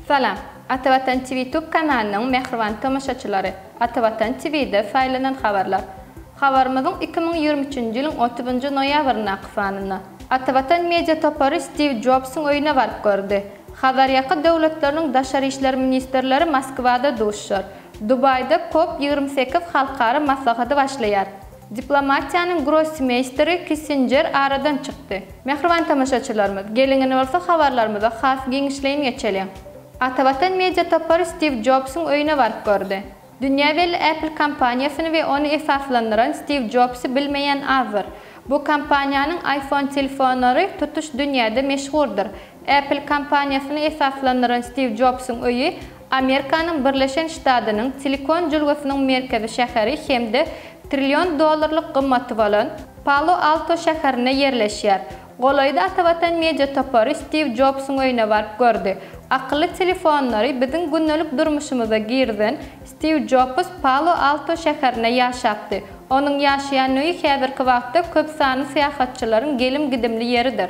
Salam. Ata Watan TV Tube kanalynyň mähriban tomaşaçylary. Ata Watan TV'de saýlanan habarlar. Habarymyzyň iki müň ýigrimi üçünji ýylyň otuznjy noýabryndaky sanynda. Ata Watan media topary Stiw Jobsyň öýüne baryp gördi. Hazarýaka döwletleriniň daşary işler ministrleri Moskwada duşar. Dubaýda Kop ýigrimi sekiz halkara maslahady başlaýar. Diplomatiýanyň grossmeýsteri Kissinjer aradan çykdy. Mähriban tomaşaçylarymyz, geliňiz bolsa habarlarymyza has giňişleýin geçeliň. Ata Watan media topary Stiw Jobsyň öýüne baryp gördi. Dünýä belli Apple kompaniýasyny we ony esaslandyran Stiw Jobsy bilmeýän azdyr. Bu kompaniýanyň iPhone telefonlary tutuş dünýäde meşhurdyr. Apple kompaniýasyny esaslandyran Stiw Jobsyň öýi Amerikanyň Birleşen Ştadynyň Silikon jülgesiniň merkezi şäheri hem-de trillion dollarlyk gymmaty bolan Palo-Alto şäherinde ýerleşýär. Golaýda Atavatan Media topary Stiw Jobsuň öýüne baryp gördi. Akylly telefonlary biziň gündelik durmuşymyza girizen Stiw Jobs Palo-Alto şäherinde ýaşapdy. Onuň ýaşaýan öýi häzirki wagtda köp sanly syýahatçylaryň gelim-gidimli ýeridir.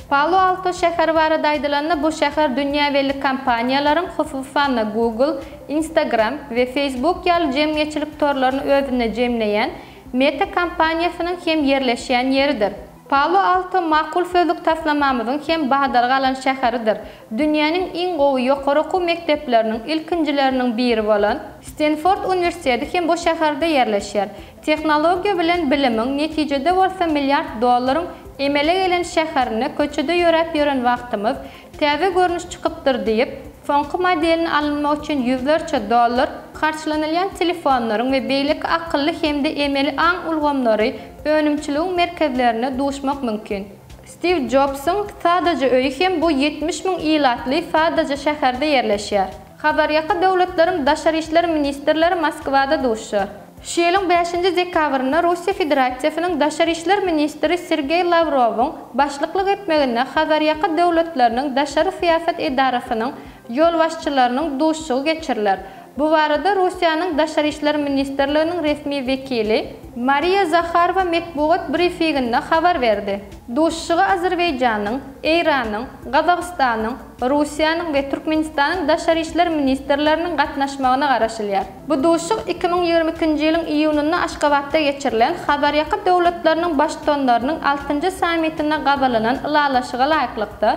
Palo-Alto şäheri barada aýdylanda, bu şäher dünýä belli kompaniýalaryň, hususan-da, Google, Instagram we Facebook ýaly jemgyýetçilik torlaryny özünde jemleýän Meta kompaniýasynyň hem ýerleşýän ýeridir. Palo-Alto makul sözlük taslamamyzyň hem badalga alan şäheridir. Dünýäniň iň gowy ýokary okuw mekdepleriniň ilkinjileriniň biri bolan. Stenford uniwersiteti hem bu şäherde ýerleşýär. Tehnologiýa bilen bilimiň, netijede bolsa milliard dollaryň emele gelen şäherinde köçede ýöräp ýören wagtymyz, täze görnüş çykypdyr diýip, soňky modelini alynmak üçin ýüzlerçe dollar harçlanylýan telefonlaryň we beýleki akylly hem-de emeli aň ulgamlary önümçiligiň merkezlerinde duşmak mümkin. Stiw Jobsyň sadaja öýi hem bu ýetmiş müň ilatly sadaja şäherde ýerleşýär. Hazarýaka döwletleriň daşary işler ministrleri Moskwada duşar. Şu ýylyň bäşinji dekabrynda Russiýa Federasiýasynyň Daşary işler ministri Sergeý Lawrowyň başlyklyk etmeginde Hazarýaka döwletleriniň daşary syýasat edarasynyň ýolbaşçylarynyň duşuşygy geçiriler. Bu barada Russiýanyň Daşary işler ministrliginiň resmi wekili, Mariýa Zaharowa metbugat brifiginde habar berdi. Duşuşyga Azerbaýjanyň, Eýranyň, Gazagystanyň, Russiýanyň we Türkmenistanyň Daşary işler ministrleriniň gatnaşmagyna garaşylýar. Bu duşuşyk iki müň ýigrimi ikinji ýylyň iýunynda Aşgabatda geçirilen Hazarýaka döwletleriniň Baştutanlarynyň altynjy sammitinde gabalanan ylalaşyga laýyklykda,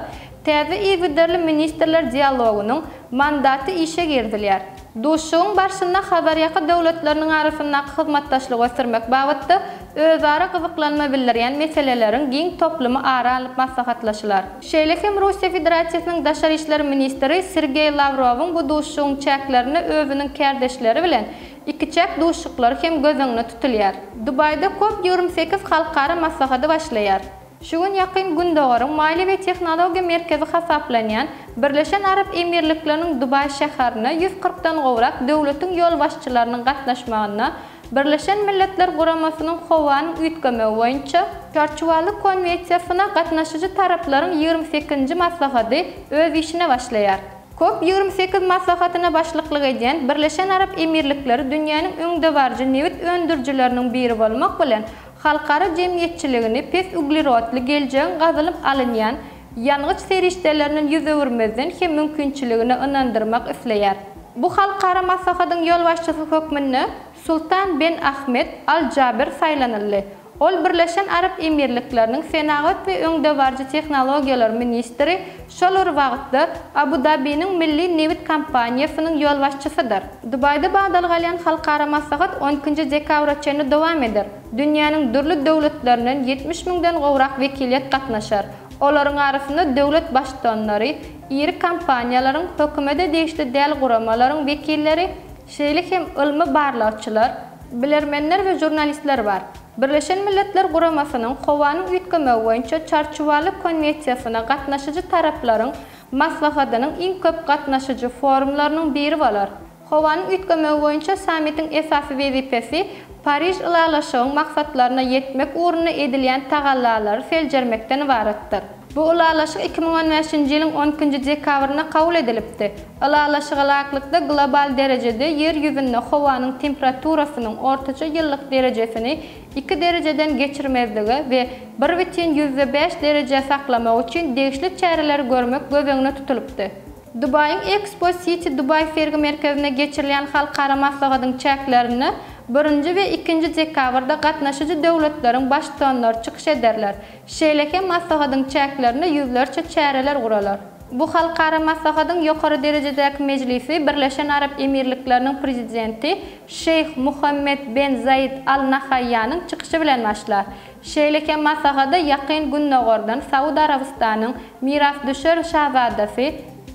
täze yzygiderli ministrler dialogynyň mandaty işe girizilýär. Duşuşygyň barşynda Hazarýaka döwletleriniň arasyndaky hyzmatdaşlygy ösdürmek babatda özara gyzyklanma bildirýän meseleleriň giň toplumy ara alnyp maslahatlaşylar. Şeýle hem Russiýa Federasiýasynyň Daşary işler ministri Sergeý Lawrowyň bu duşuşygyň çäklerinde özüniň kärdeşleri bilen ikiçäk duşuşyklary hem göz öňüne tutulýar. Dubaýda Kop ýigrimi sekiz halkara maslahady başlaýar. Şu gün Ýakyn Gündogaryň maliýe we tehnologiýa merkezi hasaplanýan Birleşen Arap Emirlikleriniň Dubaý şäherine ýüz kyrkdan gowrak döwletiň ýolbaşçylarynyň gatnaşmagynda Birleşen Milletler Guramasynyň Howanyň üýtgemegi boýunça Çarçuwaly konwensiýasyna gatnaşyjy taraplaryň ýigrimi sekizinji maslahaty öz işine başlaýar. Kop ýigrimi sekiz maslahatyna başlyklyk edýän Birleşen Arap Emirlikleri dünýäniň öňdebaryjy nebit öndürijileriniň biri bolmak bilen, halkara jemgyýetçiligini pes uglerodly geljegiň gazylyp alynýan ýangyç serişdeleriniň ýüz öwürmezden hem mümkinçiligine ynandyrmak isleýär. Bu halkara maslahatyň ýolbaşçysy hökmünde Sultan Ben Ahmed Al Jaber saýlanyldy. Ol Birleşen Arap Emirlikleriniň senagat we öňdebaryjy tehnologiýalar ministri, şol bir wagtda Abu Dabiniň milli nebit kompaniýasynyň ýolbaşçysydyr. Dubaýda badalga alýan halkara maslahat on ikinji dekabra çenli dowam eder. Dünýäniň dürli döwletlerinden ýetmiş müňden gowrak wekiliýet gatnaşar. Olaryň arasynda döwlet baştutanlary, iri kompaniýalaryň, hökümete degişli däl guramalaryň wekilleri, şeýle hem ylmy barlagçylar, bilermenler we žurnalistler bar. Birleşen Milletler Guramasynyň Howanyň üýtgemegi boýunça Çarçuwaly konwesiýasyna gatnaşyjy taraplaryň maslahatynyň iň köp gatnaşyjy forumlarynyň biri bolar. Howanyň üýtgemegi boýunça sammitiň esasy wezipesi Pariž ylalaşygyň maksatlaryna ýetmek ugrunda edilýän tagallalary seljermekden ybaratdyr. Bu ylalaşyk iki müň on bäşinji ýylyň on ikinji dekabrynda kabul edilipdi. Ylalaşyga laýyklykda global derejede Ýer ýüzünde howanyň temperaturasynyň ortaça ýyllyk derejesini iki derejeden geçirmezlige we bir bütin ýüzde bäş derejä saklamak üçin degişli çäreleri görmek göz öňüne tutulypdy. Dubaýyň Expo City Dubai sergi merkezinde geçirilýän halkara maslahatyň çäklerinde birinji we ikinji dekabrda gatnaşyjy döwletleriň Baştutanlary çykyş ederler, şeýle hem maslahatyň çäklerinde ýüzlerçe çäreler guralar. Bu halkara maslahatyň ýokary derejedäki mejlisi Birleşen Arap Emirlikleriniň Prezidenti Şeýh Muhammed ben Zaýed Al Nahaýýanyň çykyşy bilen başlar. Şeýle hem maslahada Ýakyn Gündogardan Saud Arabystanyň Mirasdüşer Şazadasy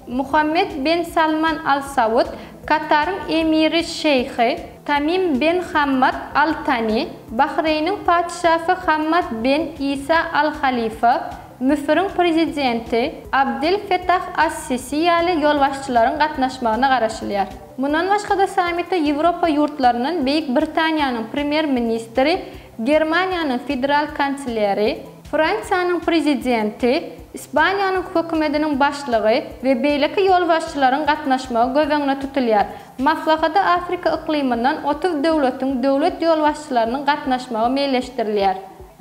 Muhammed bin Salman Al Saud, Kataryň Emiri Şeýhi Tamim bin Hammad Al Tani, Bahreýniň Patyşasy Hammad bin Isa Al Halifa, Müsüriň Prezidenti Abdel Fetah As Sisi ýaly ýolbaşçylaryň gatnaşmagyna garaşylýar. Mundan başga-da sammite Ýewropa ýurtlaryndan Beýik Britaniýanyň Premýer-ministri Germaniýanyň federal kanseleri, Fransiýanyň prezidenti, Ispaniýanyň hökümetiniň başlygy we beýleki ýolbaşçylaryň gatnaşmagy göz öňünde tutulýar. Maslahata Afrika yklymyndan otuz döwletiň döwlet ýolbaşçylarynyň gatnaşmagy meýilleşdirilýär.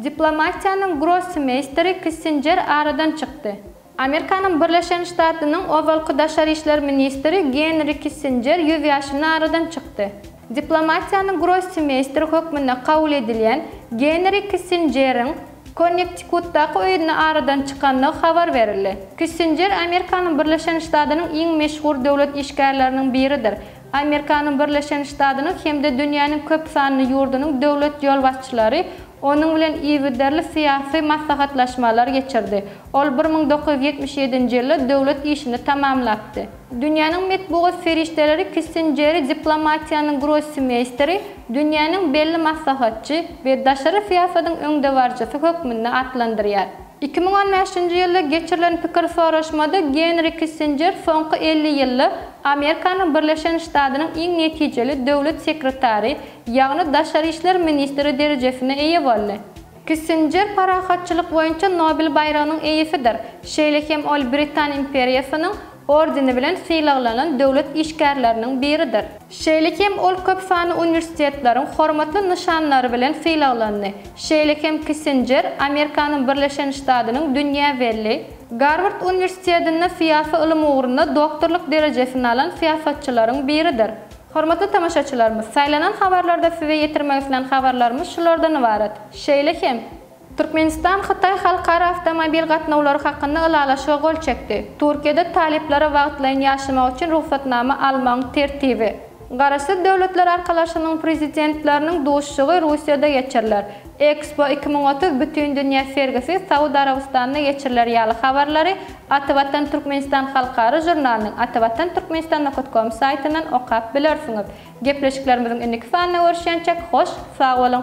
Diplomatiýanyň grossi-meýsteri Kissinjer aradan çykdy. Amerikanyň Birleşen Ştatynyň ozalky daşary işler ministri Genri Kissinjer ýüz ýaşynda aradan çykdy. Diplomatiýanyň grossmeýsteri hökmünde kabul edilýän Genri Kissinjeriň Konnektikutdaky öýünde aradan çykandygy habar berildi. Kissinjer Amerikanyň Birleşen Ştatynyň iň meşhur döwlet işgärleriniň biridir Amerikanyň Birleşen Ştadynyň hem-de dünýäniň köp sanly ýurdunyň döwlet ýolbaşçylary onuň bilen yzygiderli syýasy maslahatlaşmalar geçirdi. Ol bir müň dokuz ýüz ýetmiş ýedinji ýylda döwlet işini tamamlapdy. Dünýäniň metbugat serişdeleri Kissinjeri diplomatiýanyň grossmeýsteri, dünýäniň belli maslahatçy we daşary syýasatyň öňdebaryjysy hökmünde atlandyrýar. Iki müň on bäşinji ýylda geçirilen pikir soraşmada Genri Kissinjer soňky elli ýylda Amerikanyň Birleşen Ştadynyň iň netijeli döwlet sekretary, ýagny daşary işler ministri derejesine eýe boldy. Kissinjer parahatçylyk boýunça Nobel baýragynyň eýesidir, şeýle hem ol Britan imperiýasynyň ordeni bilen sylaglanan döwlet işgärleriniň biridir. Şeýle hem ol köp sanly uniwersitetleriň hormatly nyşanlary bilen sylaglandy, şeýle hem Kissinjer Amerikanyň Birleşen Ştadynyň dünýä belli Garward uniwersitetinde syýasy ylym ugrunda doktorlyk derejesini alan syýasatçylaryň biridir. Hormatly tamaşaçylarymyz, saýlanan habarlarda size ýetirmek islän habarlarymyz şulardan ybarat. Şeýle hem. Türkmenistan Hytaý halkara awtomobil gatnawlary hakynda ylalaşyga gol çekdi. Türkiýede talyplara wagtlaýyn ýaşamak üçin rugsatnama almagyň tertibi. Garaşsyz Döwletler Arkalaşygynyň Prezidentleriniň duşuşygy Russiýada geçiriler. Expo iki müň otuz bütindünýä sergisi Saud Arabystanda geçiriler ýaly habarlary Atavatan Türkmenistan halkara žurnalynyň Atavatan Türkmenistan nokat kom saýtyndan okap bilersiňiz. Gepleşiklerimiziň indiki sanynda görüşýänçäk hoş sag boluň!